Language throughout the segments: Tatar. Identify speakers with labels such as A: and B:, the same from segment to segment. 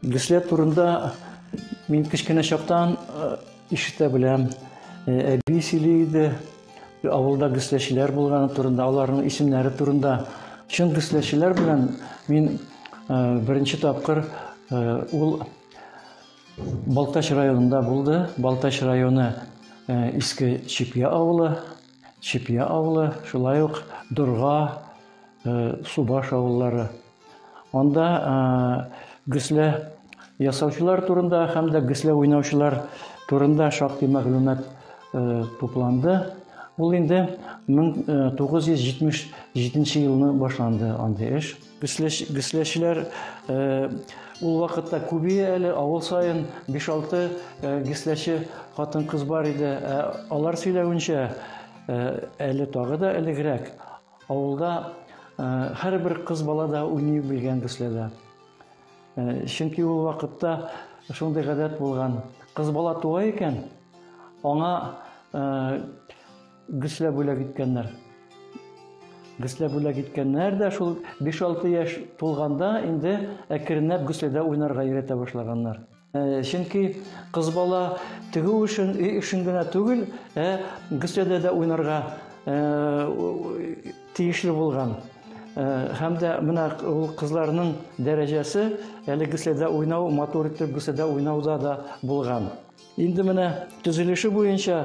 A: Гөсләр турында мин кечкенә чактан ишетә беләм. Әби сөйли иде, авылда гөсләчеләр булганы турында, аларның исемнәре турында. Чын гөсләчеләр белән мин беренче тапкыр ул Балтач районында булды. Балтач районы Иске Чепья авылы, Чепья авылы, шулай ук Дорга, Субаш авыллары. Анда гөслә ясаучылар турында һәм дә гөслә уйнаучылар турында шактый мәгълүмат тупланды. Ул инде 1977 елны башланды андый эш. Гесләчеләр э, ул вакытта күбие әле авыл саен 5-6 э, гесләче хатын-кыз бар иде. Ә алар сөйләвенчә, э, әле тагы да элегрәк авылда һәрбер кыз бала да уйный белгән гесләдә. Чөнки ул вакытта шундый гадәт булган. Кыз бала туа икән, аңа Гесләп бүләк иткәннәр. Гесләп бүләк иткәннәр дә шул 5-6 яшь тулганда инде әкренләп гесләдә уйнарга өйрәтә башлаганнар. Э, чөнки кыз бала тегү өчен өй эшен генә түгел, ә гөсләдә дә уйнарга э, тиешле булган. Э, һәм дә менә ул кызларның дәрәҗәсе әле гөсләдә уйнау, матур итеп гөсләдә уйнауда да булган. Инде менә төзелеше буенча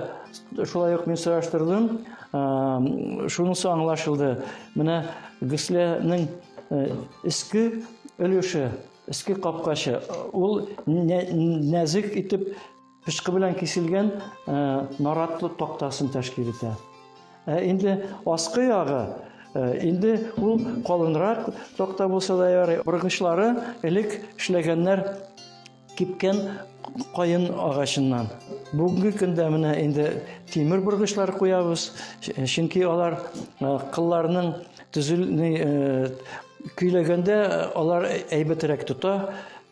A: шулай ук мин сораштырдым. Шунысы аңлашылды. Менә гөсләнең иске өлеше, иске капкачы, ул нәзек итеп пычкы белән киселгән наратлы тактасын тәшкил итә. Ә инде аскы ягы инде ул калынрак такта булса да ярый. Боргычлары элек эшләгәннәр Кипкән каен агачыннан. Бүгенге көндә менә инде тимер боргычлар куябыз, чөнки алар кылларның төзелми көйләгәндә алар әйбәтрәк тота,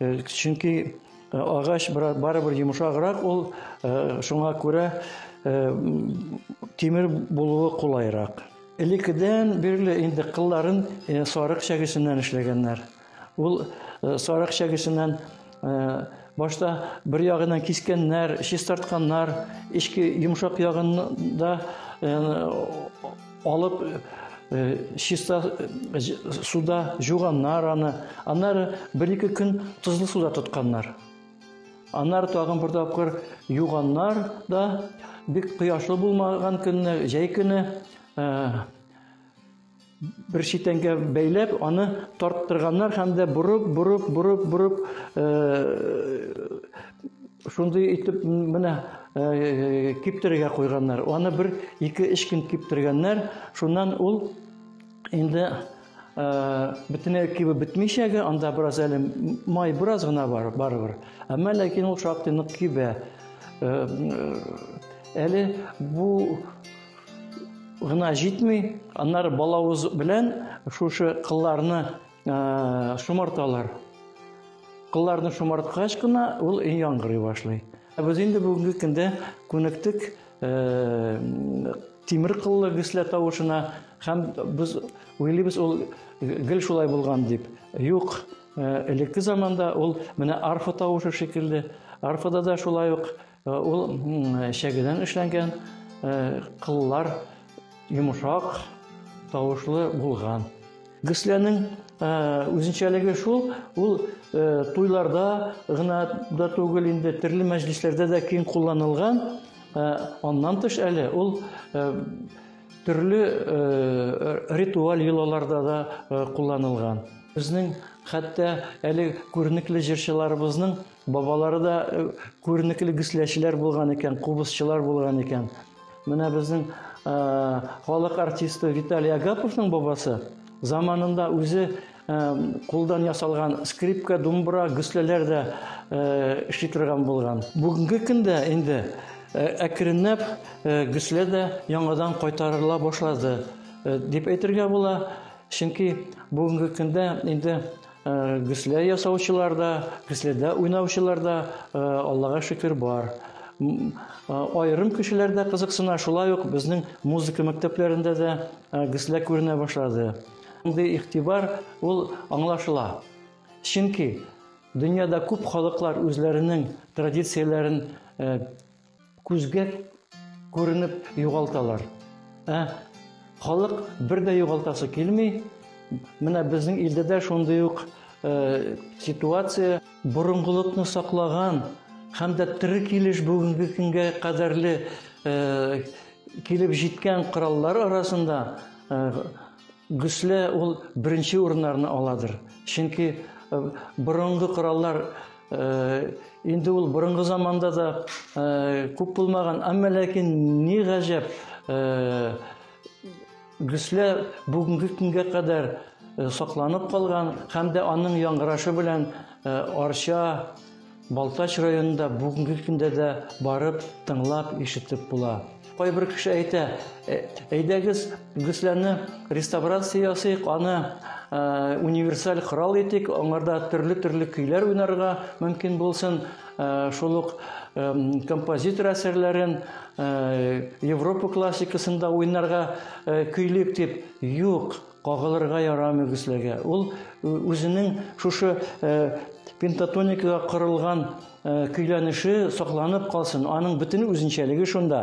A: чөнки агач барыбер йомшаграк ул, шуңа күрә тимер булуы кулайрак. Элеккедән бирле инде кылларын сарык чәгесеннән эшләгәннәр. Ул э, сарык чәгесеннән э, башта бер ягынан кискәннәр, чистартканнар, эчке йомшак ягында э, алып чиста суда жуганнар аны. Аннары бер-ике көн тозлы суда тотканнар. Аннары тагын бер тапкыр юганнар да бик кояшлы булмаган көнне, җәй көне Бер читәнгә бәйләп, аны тарттырганнар һәм дә борып, борып, борып, борып, шундый итеп менә киптерергә куйганнар. Аны бер ике эш көн киптергәннәр. Шуннан ул инде бөтенләй кибеп бетмичәге, анда бераз әле май бераз гына бар, барыбер. Әмма ләкин ул шактый нык кибә. Әле бу гына җитми, аннары балавыз белән шушы кылларны шомарталар. Кылларны шомарткач кына ул яңгырый башлый. Ә без инде бүгенге көндә күнектек тимер кыллы гөслә тавышына һәм без уйлыйбыз ул гел шулай булган дип. Юк, элекке заманда ул менә арфа тавышы шикелле, арфада да шулай ук Ул чәгедән эшләнгән, кыллар йомшак, тавышлы булган. Гөсләнең үзенчәлеге шул, ул туйларда гына да түгел инде, төрле мәҗлесләрдә дә киң кулланылган. Аннан тыш әле ул төрле ритуаль йолаларда да кулланылган. Безнең хәтта әле күренекле җырчыларыбызның Бабалары да э, күренекле гөсләчеләр булган икән, кубызчылар булган икән. Менә безнең э, халык артисты Виталий Агаповның бабасы заманында үзе э, кулдан ясалган скрипка, думбра, гөсләләр дә эшли торган булган. Бүгенге көндә инде әкренләп гөслә дә яңадан кайтарыла башлады дип әйтергә була. Чөнки бүгенге көндә инде Э, гөслә ясаучылар да гөсләдә уйнаучылар да э, аллага шөкер бар э, аерым кешеләр дә кызыксына шулай ук безнең музыка мәктәпләрендә дә гөслә күренә башлады мондый игътибар ул аңлашыла чөнки дөньяда күп халыклар үзләренең традицияләрен Күзгә күренеп югалталар. Ә халык бер дә югалтасы килми. Менә безнең илдә дә шундый ук э, ситуация. Борынгылыкны саклаган һәм дә тирек килеш бүгенге көнгә кадәрле э, килеп җиткән кораллар арасында э, Гөслә ул беренче урыннарны аладыр. Чөнки э, борынгы кораллар э, инде ул борынгы заманда да э, күп булмаган, әмма ләкин ни гаҗәп, гөслә бүгенге көнгә кадәр сакланып калган һәм дә аның яңгырашы белән арча Балтач районында бүгенге көндә дә барып, тыңлап, ишетеп була. Кайбер кеше әйтә, «Э, әйдәгез, гөсләне реставрация ясыйк, аны э, универсаль корал итик, аңарда төрле-төрле көйләр уйнарга мөмкин булсын, э, шул ук композитор әсәрләрен Европа классикасын да уйнарга көйлик дип. Юк, Кагылырга ярамый гөсләгә. Ул үзенең шушы пентатоникага корылган көйләнеше сакланып калсын. Аның бөтен үзенчәлеге шунда.